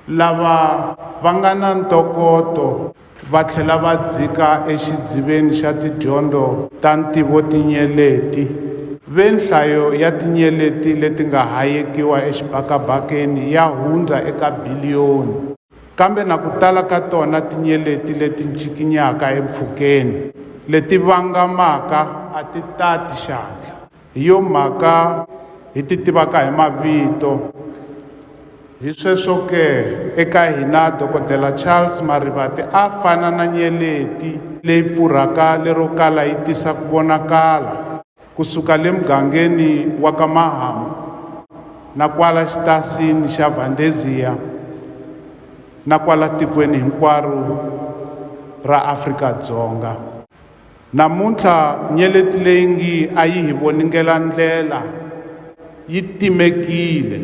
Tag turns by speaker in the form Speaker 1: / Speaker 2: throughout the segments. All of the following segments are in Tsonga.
Speaker 1: Lava va nga na ntokoto va tlhela va dzika exidziveni xa tidyondzo ta ntivotinyeleti. Ve nhlayo ya tinyeleti leti nga hayekiwa exibakabakeni ya hundza eka biliyoni, kambe na ku tala ka tona tinyeleti leti ncikinyaka empfhukeni leti vangamaka a ti tati xandla. Hi yo mhaka hi ti tivaka hi mavito. Hi sweswo ke, eka hina Dokodela Charles Marivate a fana na nyeleti leyi pfurhaka lero kala yi tisa ku vonakala ku suka le mugangeni wa ka Mahamu na kwala xitasini xa Vandeziya na kwala tikweni hinkwaro ra Afrika-Dzonga. Namuntlha nyeleti leyi ngi a yi hi voningela ndlela yi timekile.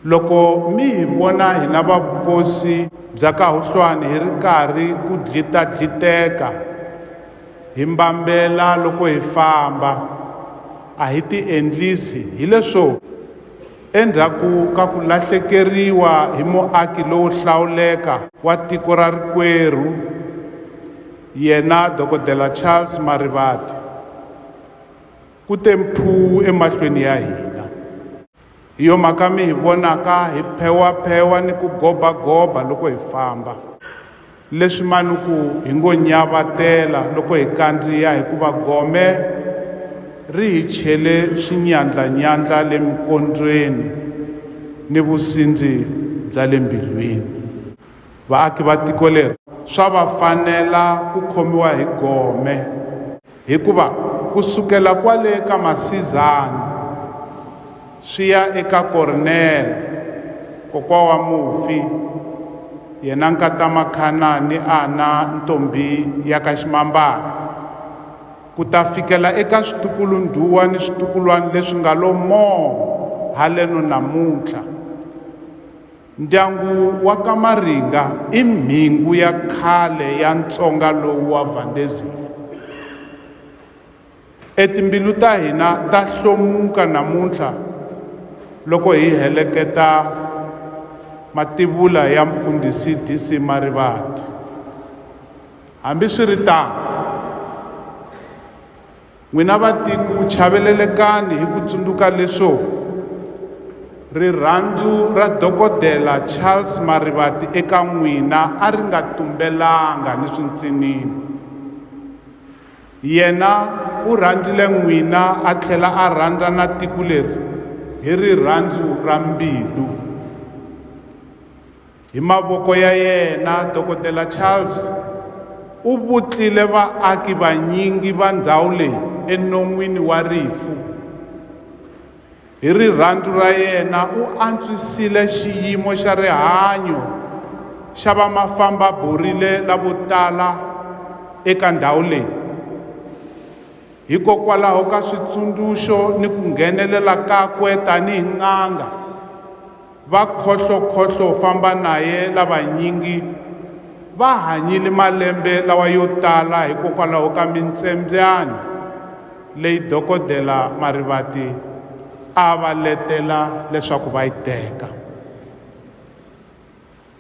Speaker 1: Loko mi hi vona hina va vukosi bya ka Huhlwani hi ri karhi ku dlita-dliteka hi mbambela loko hi famba, a hi tiendlisi hi leswo? Endzhaku ka ku lahlekeriwa hi muaki lowo hlawuleka wa tiko ra rikwerhu, yena Dokodela Charles Marivate, ku te mphuu emahlweni ya hina. Hi yo mhaka mi hi vonaka hi phewaphewa ni ku gobagoba loko hi famba. Leswi manuku hi ngo nyavatela loko hi kandziya hikuva gome ri hi chele swinyandlanyandla le mikondzweni ni vusindzi bya le mbilwini. Vaaki va tiko leri swa va fanela ku khomiwa hi gome. Hikuva ku sukela kwale ka Masizani swi ya eka Kornele, kokwa wa mufi, yena nkata Makhana ni Ana ntombhi ya ka Ximambana, ku ta fikela eka switukulu-ndhuwa ni switukulwani leswi nga lo moo haleno namuntlha, Ndyangu wa ka Maringa i mhingu ya khale ya Ntsonga lowu wa Vandezile. E timbilu ta hina ta hlomuka namuntlha loko hi heleketa mativula ya Mfundhisi DC Marivate. Hambi swi ri tano, N'wina vatiko, chavelelekani hi ku tsundzuka leswo rirhandzu ra Dokodela Charles Marivate eka n'wina a ri nga tumbelanga ni swintsinini. Yena u rhandzile n'wina a tlhela a rhandza na tiko leri hi rirhandzu ra mbilu. Hi mavoko ya yena, Dokodela Charles u vutlile vaaki vanyingi va ndhawu leyi enon'wini wa rifu. Hi rirhandzu ra yena u antswisile xiyimo xa rihanyo xa vamafamba-borile lavo tala eka ndhawu leyi. Hikokwalaho ka switsundzuxo ni ku nghenelela kakwe tanihi n'anga, Va khohlokhohlo famba naye lavanyingi va hanyile malembe lawa yo tala hikokwalaho ka mintsembyani leyi dokodela Marivate a va letela leswaku va yi teka.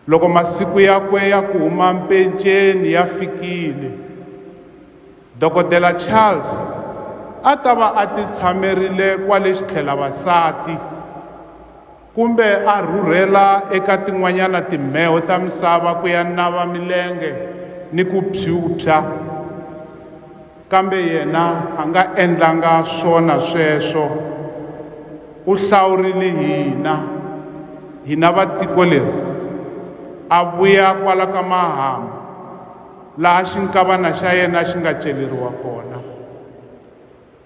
Speaker 1: Loko masiku yakwe ya ku huma mpenceni ya fikile, Dokodela Charles a ta va a titshamerile kwale xitlhelavasati kumbe a rhurhela eka tin'wanyana timheho ta misava ku ya nava milenge ni ku phyuphya. Kambe yena a nga endlanga swona sweswo. U hlawurile hina, hina va tiko leri, a vuya kwala ka mahamu, laha xinkavana xa yena xi nga celeriwa kona.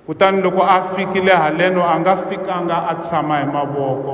Speaker 1: Kutani loko a fikile haleno a nga fikanga a tshama hi mavoko.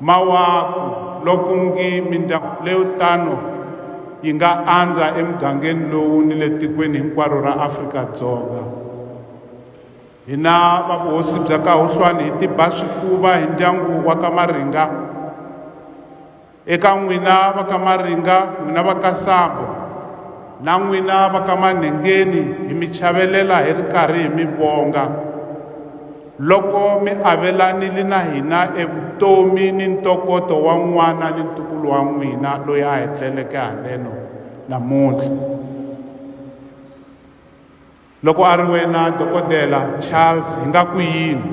Speaker 1: Mawaku loko ku ngi mindyangu leyo tano yi nga andza emugangeni lowu ni le tikweni hinkwaro ra Afrika-Dzonga. Hina va vuhosi bya ka Huhlwani hi tiba swifuva hi ndyangu wa ka Maringa. Eka n'wina va ka Maringa, n'wina va ka Sambo na n'wina va ka Manhengeni hi mi chavelela hi ri karhi hi mi vonga. Loko mi avelanile na hina evutomi ni ntokoto wa n'wana ni ntukulu wa n'wina loyi a hi tleleke haleno namuntlha. Loko a ri wena Dokodela Charles hi nga ku yini?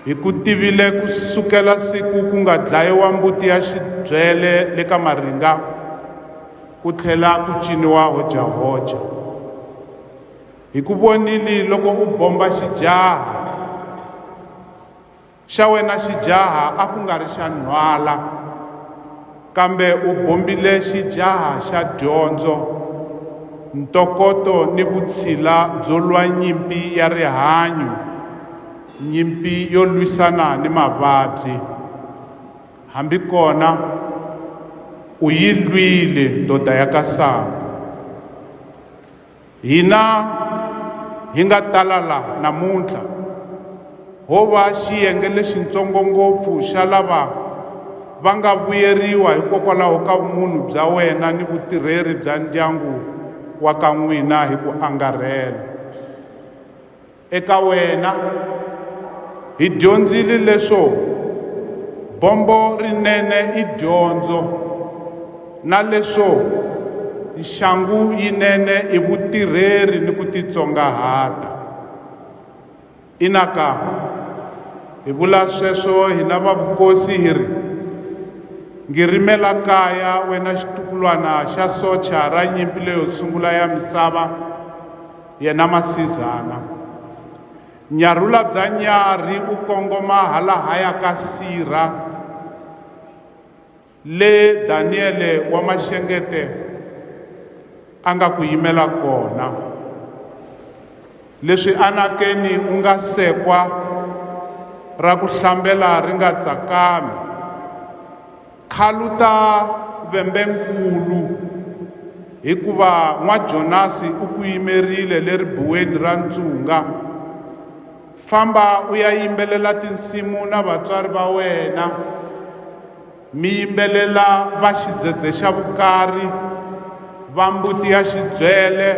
Speaker 1: Hi ku tivile ku sukela siku ku nga dlayiwa mbuti ya xibyele le ka Maringa ku tlhela ku ciniwa hojahoja. hi ku vonile loko u bomba xijaha xa wena xijaha a ku nga ri xa nhwala kambe u bombile xijaha xa dyondzo ntokoto ni vutshila byo lwa nyimpi ya rihanyo nyimpi yo lwisana ni mavabyi hambi kona u yi lwile ndoda ya ka sangu Hina hi nga tala laha namuntlha ho va xiyenge lexintsongo ngopfu xa lava va nga vuyeriwa hikokwalaho ka vumunhu bya wena ni vutirheri bya ndyangu wa ka n'wina hi ku angarhela. Eka wena, hi dyondzile leswo bombo rinene i dyondzo na leswo nxangu yinene i vutirheri ni ku titsongahata. Inaka, hi vula sweswo hina va vukosi hi ri, Ngirimela kaya wena xitukulwana xa socha ra nyimpi leyo sungula ya misava! yena masizana nyarhula bya nyarhi u kongoma halahaya ka sirha le daniyele wa maxengete a nga ku yimela kona leswi anakeni u nga sekwa ra ku hlambela ri nga tsakami Khaluta vembe-nkulu, hikuva N'wa-Jonasi u ku yimerile le ribuweni ra ntshunga. Famba u ya yimbelela tinsimu na vatswari va wena, mi yimbelela va xidzedze xa vukari, va mbuti ya xidzwele,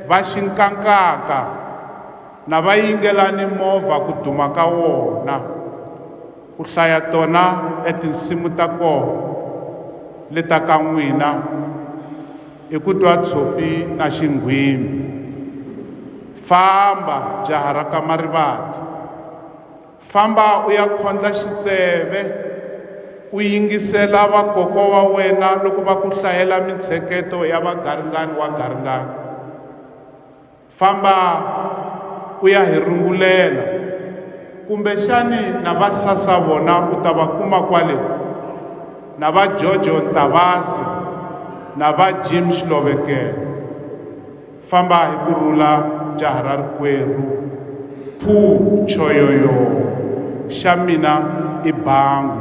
Speaker 1: va xinkankaka, na va yingelani movha ku duma ka wona. ku hlaya tona e tinsimu ta koho le ta ka n'wina i ku twa tshopi na xinghwimbi famba jaha ra ka marivati famba u ya khondla xitseve u yingisela vakoko wa wena loko va ku hlayela mintsheketo ya vagaringani wa garingani Famba u ya hi rungulela, kumbexani na va sasa vona u ta va kuma kwale, na va Jojo Ntavasi na va Jim Xilovekele. Famba hi ku rhula jaha ra rikwerhu. Phuu choyoyoo, xa mina i bangu.